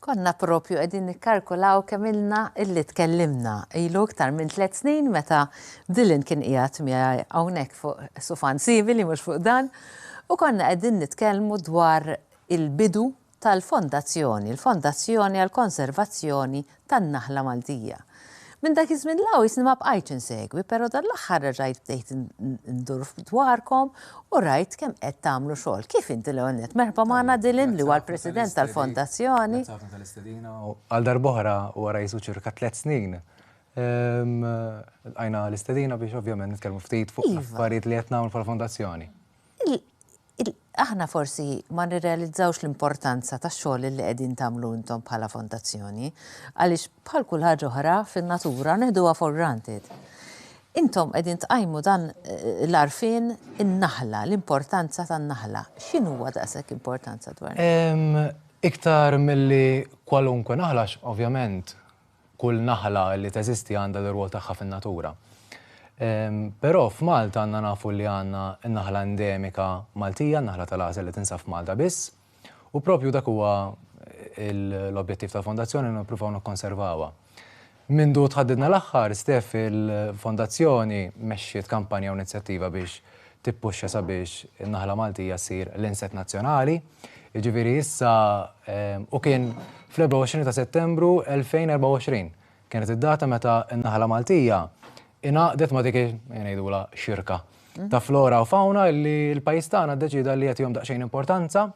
Konna propju qegħdin nikkalkulaw kemm ilna illi tkellimna. Ilu iktar minn tliet snin meta Dylan kien qiegħed miegħi hawnhekk fuq sufan simili mhux fuq dan u konna qegħdin nitkellmu dwar il-bidu tal-Fondazzjoni, l-Fondazzjoni għall-Konservazzjoni tan-Naħla Maltija. Minn dak iż-żmien 'l hawn jisni ma bqajtx insegwi, però dan l-aħħar reġajt bdejt indur dwarkom u rajt kemm qed tagħmlu xogħol. Kif inti l-ewwel nett? Merħba magħna Dylan li huwa l-President tal-Fondazzjoni. Grazzi ħafna tal-istedina u għal darb'oħra wara jisu ċirka tliet snin lqajna l-istedina biex ovvjament nitkellmu ftit fuq l-affarijiet li qed nagħmlu bħala Fondazzjoni. Aħna forsi ma nirrealizzawx l-importanza tax-xogħol li qegħdin tagħmlu intom bħala fondazzjoni, għaliex bħal kull ħaġa oħra fin-natura neħduha for granted. Intom qegħdin tqajmu dan l-għarfien in-naħla, l-importanza tan-naħla. X'inhuwa daqshekk importanza dwar? Iktar milli kwalunkwe naħla għax ovvjament Kull naħla li teżisti għandha l-irwol tagħha fin-natura. Però f'Malta għandna nafu li għandna n-naħla endemika Maltija, n-naħla tal-għażel li tinsab f'Malta biss, u proprju dak huwa l-objettiv tal-Fondazzjoni li nippruvaw nikkonservawha. Mindu tħaddidna l-aħħar stef il-Fondazzjoni mexxiet kampanja u inizjattiva biex tippuxxa sabiex in-naħla Maltija ssir l-inset nazzjonali. Jiġifieri issa u kien fl-24 ta' Settembru 2024 kienet id-data meta n-naħla Maltija ingħaqdet ma' dik ngħidulha xirka ta' flora u fawna li l-pajjiż tagħna ddeċieda li jagħtihom daqsxejn importanza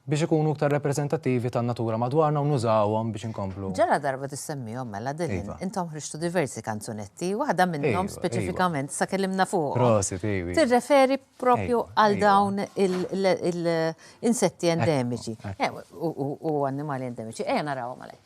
Biex ikunu iktar rappreżentattivi tan-natura madwarna u nużawhom biex inkomplu. Ġala darba tissemmihom mela Dylan, intom ħriġtu diversi kanzunetti, waħda minnhom speċifikament issa kellimna fuqhom. Tirreferi proprju għal dawn il-insetti endemiċi u annimali endemiċi. Ejja narawhom għalhekk.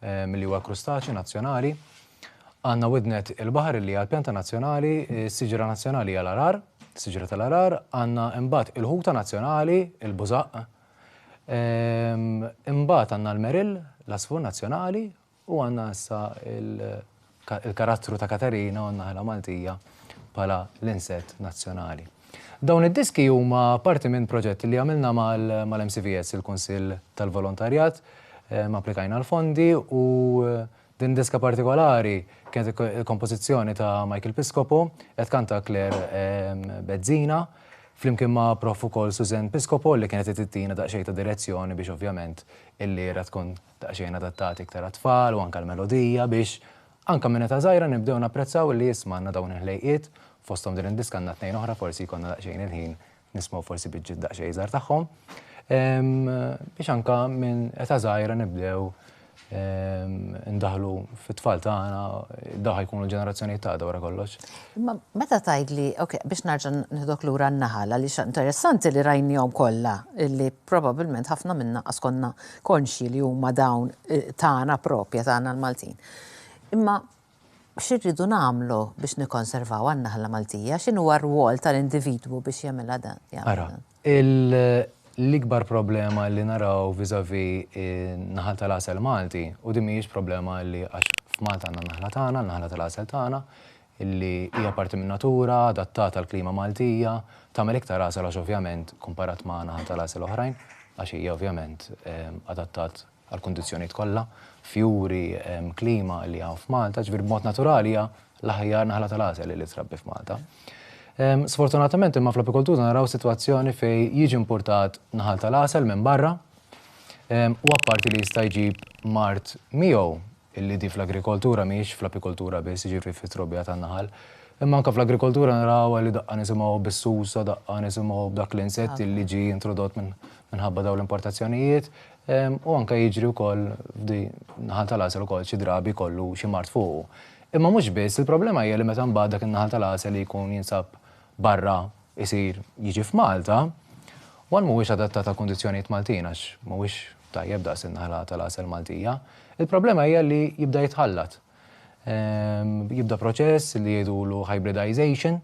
milli huwa l-krustaċju nazzjonali. Għandna widnet il-baħar li hija l-pjanta nazzjonali, is-siġra nazzjonali hija l-arar, siġra tal-arar, għandna imbagħad il-ħuta nazzjonali, il-bużaq, ehm, imbagħad għandna l-merill, l-asfur nazzjonali u għandna issa il- il-karattru ta' Katerina u n-naħla Maltija bħala l-insett nazzjonali. Dawn id-diski huma parti minn proġett li għamilna mal-MCVS, il-Kunsill tal-Volontarjat, applikajna l-fondi u din diska partikolari kienet il-kompożizzjoni ta' Michael Piscopo, qed tkanta Claire Bezzina, flimkien ma' Prof ukoll Suzanne Piscopo li kienet qed ttina daqsxejn ta' direzzjoni biex ovvjament il-lira tkun daqsxejn adattati iktar għat-tfal u anke għall-melodija biex anke minn età żgħira nibdew napprezzaw li isma' għandna dawn il-ħlejqiet fosthom din id-diska għandna tnejn oħra forsi jkollna daqsxejn il-ħin nismgħu forsi biċċiet daqsxejn iżgħar tagħhom biex anke minn età żgħira nibdew indaħħlu fit-tfal tagħna dawn ħa jkunu l-ġenerazzjonijiet ta' għada wara kollox. Imma meta tgħidli, ok, biex nerġa' nieħdok lura n-naħal għaliex interessanti li rajniehom kollha li Probabilment ħafna minna qas konna konxji li huma dawn tagħna proprja tagħna l-Maltin. Imma x'irridu nagħmlu biex nikkonservawha n-naħla Maltija? X'inhuwa r-rwol tal-individwu biex jagħmilha dan? Ara, l-ikbar problema li naraw vis-à-vis in-naħal tal-għasel Malti, u din mhijiex problema li għax f'Malta għandna n-naħla tagħna, n-naħla tal-għasel tagħna, li hija parti min-natura, adattata għall-klima Maltija, tagħmel iktar għasel għax ovvjament komparat ma' naħa tal-għasel oħrajn, għax hija ovvjament adattat għall-kundizzjonijiet kollha, fjuri, klima li hawn f'Malta, ġifieri b'mod naturali hija l-aħjar naħla tal-għasel li trabbi f'Malta. Sfortunatament imma fl-apikoltura naraw sitwazzjoni fejn jiġi impurtat naħal tal-għasel minn barra u apparti li jista' jġib mard miegħu, illi di fl-agrikoltura mhijiex fl-apikoltura biss, jiġifieri fit-trobbija tan-naħal, imma anke fl-agrikoltura narawha li daqqa nisimgħu bis-susa, daqqa nisimgħu b'dak l-insett illi ġie introdott minħabba dawn l-importazzjonijiet, u anke jiġri wkoll f'di naħal tal-għasel ukoll xi drabi jkollu xi mard fuqu. Imma mhux biss, il-problema hija li meta mbagħad dak in-naħal tal-għasel li jkun jinsab barra, isir jiġi f'Malta, one mhuwiex adattat għal kundizzjonijiet Maltin għax mhuwiex tajjeb daqs in-naħla tal-għasel Maltija. Il-problema hija li jibda jitħallat. Ehm, jibda proċess li jgħidulu hybridization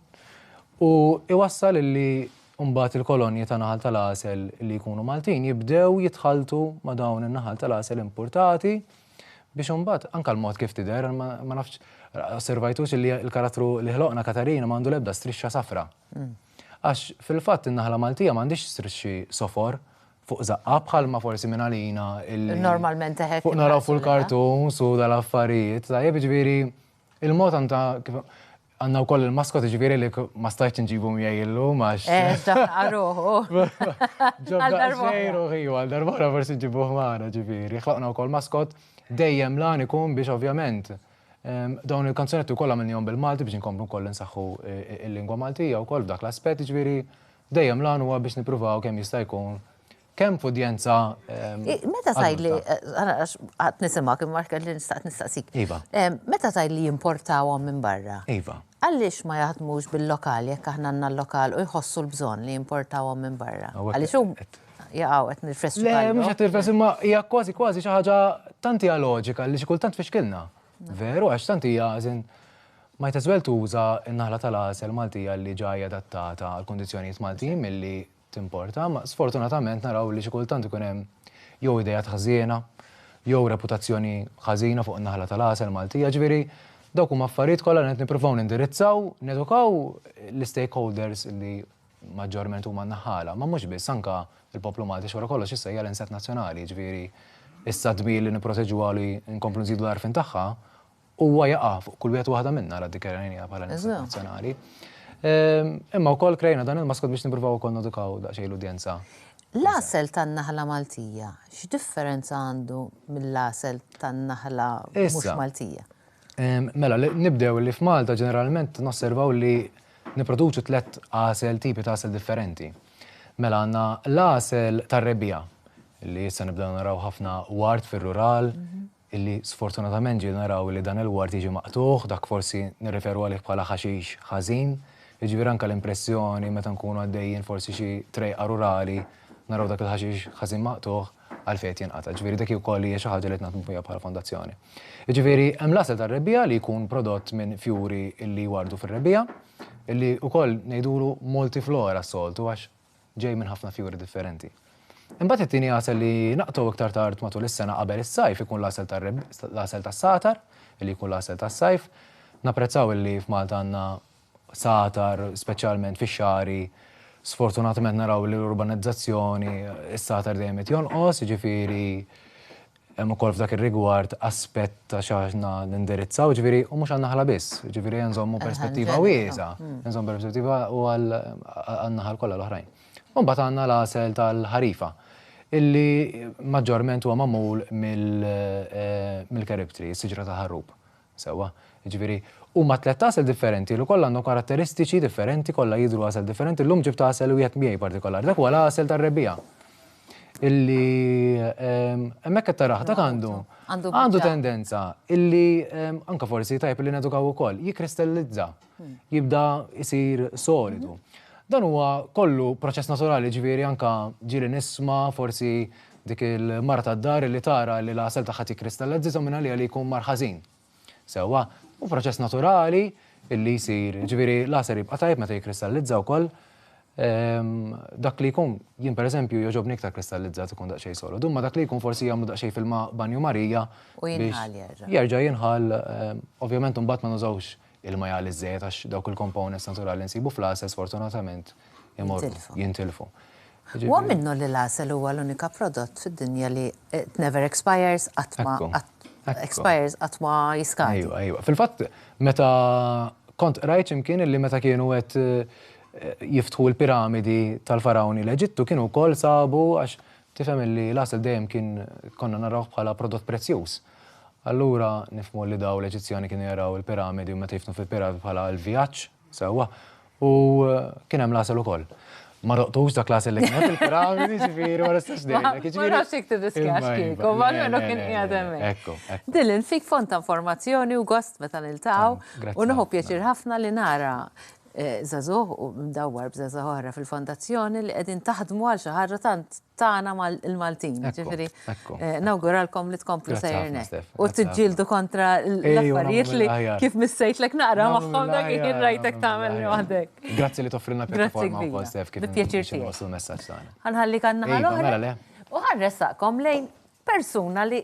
u iwassal li mbagħad il-kolonji ta' naħal tal-għasel li jkunu Maltin jibdew jitħaltu ma' dawn in-naħal tal-għasel importati Biex imbagħad, anke l-mod kif tidher, ma nafx osservajtux illi l-karattru li ħloqna Katarina ma għandu l-ebda strixxa safra. Għax fil-fatt in-naħla Maltija ma għandhiex strixxi sofor fuq żaqqha bħalma forsi minn għalina illi. Normalment teħet. Fuq naraw fuq il-cartoons u dal-affarijiet, tajjeb, jiġifieri l-mod tant ta' kif. Għandna wkoll il-maskot jiġifieri li ma stajtx inġibu miegħi illum għax. Eh, ġabna ruħu. Ġabna ruħu ħiju għal darbora forsi nġibuh magħna ġifieri. Ħloqna wkoll maskot dejjem lan ikun biex ovvjament dawn il-kanzunetti wkoll għamilnihom bil-Malti biex inkomplu wkoll insaħħu il-lingwa Maltija wkoll f'dak l-aspett ġifieri dejjem lan huwa biex nippruvaw kemm jista' jkun Kemm f'udjenza. Meta tgħidli, għad nisimak imma kelli nistaqt nistaqsik. Iva. Meta tgħidli jimportawhom minn barra. Iva. Għaliex ma jaħdmux bil-lokal jekk aħna għandna l-lokal u jħossu l-bżonn li jimportawhom minn barra? Għaliex hum jaqgħu qed nirfessu. Le, mhux qed nirfessu imma hija kważi kważi xi ħaġa tant hija loġika li xi kultant fixkilna. Veru għax tant hija għażin ma jteswel tuża n-naħla tal-għasel Maltija li ġajja adattata għall-kundizzjonijiet Maltin milli timporta, imma sfortunatament naraw li xi kultant ikun hemm jew ideat ħżiena, jew reputazzjoni ħażina fuq in-naħla tal-għasel Maltija, ġifieri dawk huma affarijiet kollha li qed nippruvaw nindirizzaw, nedukaw l-istakeholders li maġġorment huma n-naħħala, ma mhux biss anke l-poplu Malti x'wara kollox issa hija l-insett nazzjonali, ġifieri issa d-dmir li nipproteġuha li nkomplu nżidu l-għarfien tagħha Huwa jaqa' fuq kull wieħed waħda minna għal dikjarajnija bħala nisel nazzjonali. Ehm, imma wkoll krejna dan il-maskot biex nippruvaw ukoll nodukaw daqsxejn l-udjenza. L-għasel tan-naħla Maltija, x'differenza għandu mill-għasel tan-naħla mhux Maltija? Ehm, mela, nibdew li f'Malta ġeneralment nosservaw li niproduċu tlet għasel tipi ta' għasel differenti. Mela għanna l-għasel tar-rebija, li jissa nibdew naraw ħafna wart fil-rural, mhm. illi sfortunatament ġieli naraw li dan il-ward jiġi maqtugħ, dak forsi nirreferu għalih bħala ħaxix ħażin, jiġifieri anke l-impressjoni meta nkunu għaddejjin forsi xi trejqa rurali naraw dak il-ħaxix ħażin maqtugħ, għalfejn qed jinqata'. Ġifieri dik ukoll hija xi ħaġa li qed naħdmu biha bħala fondazzjoni. Jiġifieri hemm l-għasel tar-rebbiegħa li jkun prodott minn fjuri illi jwardu fir-rebbiegħa, illi ukoll ngħidulu multiflora s-soltu għax ġej minn ħafna fjuri differenti. Imbagħad it-tieni għasel li naqtgħu iktar tard matul is-sena qabel is-sajf ikun l-għasel tal-għasel tas-satar, li jkun l-għasel tas-sajf. Napprezzaw li f'Malta għandna satar, speċjalment fix-xari, sfortunatament naraw li l-urbanizzazzjoni, is-satar dejjem qed jonqos, jiġifieri Hemm ukoll f'dak ir-rigward aspett ta' x'aħna nindirizzaw, ġifieri u mhux għan-naħla biss, ġifieri nżommu perspettiva wiesgħa, nżommu perspettiva u għan-naħal kollha l-oħrajn. U mbagħad għandna l-għasel tal-ħarifa illi maġġorment huwa magħmul mill-keribtri, is-siġra tal-ħarrub. Sewwa. Jiġifieri, huma tlett għasel differenti li kollha għandhom karatteristiċi differenti, kollha jidhru għasel differenti. Llum ġibt għasel wieħed miegħi partikolari. Dak huwa l-għasel tar-rebbiegħa. Illi hemmhekk qed tarah, dak għandu għandu tendenza illi anke forsi tajjeb li nedukaw ukoll, jikkristallizza. jibda jsir solidu. Dan huwa kollu proċess naturali ġifieri anka ġieli nisma' forsi dik il-mara tad-dar li tara li l-għasel tagħha tikkristalla żiża minn għaliha li jkun mar ħażin. Sewwa, hu proċess naturali illi jsir, ġifieri l-għasel jibqa' tajjeb meta jikkristallizza wkoll. Dak li jkun, jien pereżempju jogħġobni iktar kristallizzat ikun daqsxejn solidu, imma dak li jkun forsi jagħmlu daqsxejn fil-ma' banju Marija. U jinħall jerġa'. Jerġa' jinħall, ovvjament imbagħad ma nużawx ilma jgħalli ż-żejjed għax dawk il-components naturali li nsibu fl-għasel sfortunatament imorru, jintilfu. Huwa minnu li l-għasel huwa l-unika prodott fid-dinja li it never expires, qatt ma expires, qatt ma jiskadi. Ejwa, ejwa. Fil-fatt, meta kont qrajt x'imkien illi meta kienu qed jiftħu l-piramidi tal-Fargħuni l-Eġittu kienu wkoll sabu għax tifhem illi l-għasel dejjem kien konna narawh bħala prodott prezzjuż. Allura nifhmu li dawn l-Eġizzjani kienu jaraw il-piramidi u meta jiftnu fil-piramidi bħala l-vjaġġ, sewwa, u kien hemm l-għasel ukoll. Ma doqtux dak l-għasel li kien fil-piramidi, ġifieri ma nistax ngħidlek. Ma nafx jekk tiddiskjax kieku, ma almenu kien qiegħed hemmhekk. Ekku, ekku. Dylan, fik fond ta' informazzjoni u gost meta niltaqgħu. Grazzi ħafna. U nieħu pjaċir ħafna li nara żagħżugħ u mdawwar b'żgħażagħ oħra fil-Fondazzjoni li qegħdin taħdmu għal xi ħaġa tant tagħna mal-Maltin. Jiġifieri nawguralkom li tkomplu sejrin hekk u tiġġieldu kontra l-affarijiet li kif missejtlek naqra magħhom dak li kien rajtek tagħmel waħdek. Grazzi li toffrilna pjattaforma wkoll Stef kif inwasslu l-messaġġ tagħna. Ħa nħallik għan-naħa l-oħra u ħa nressaqkom lejn persuna li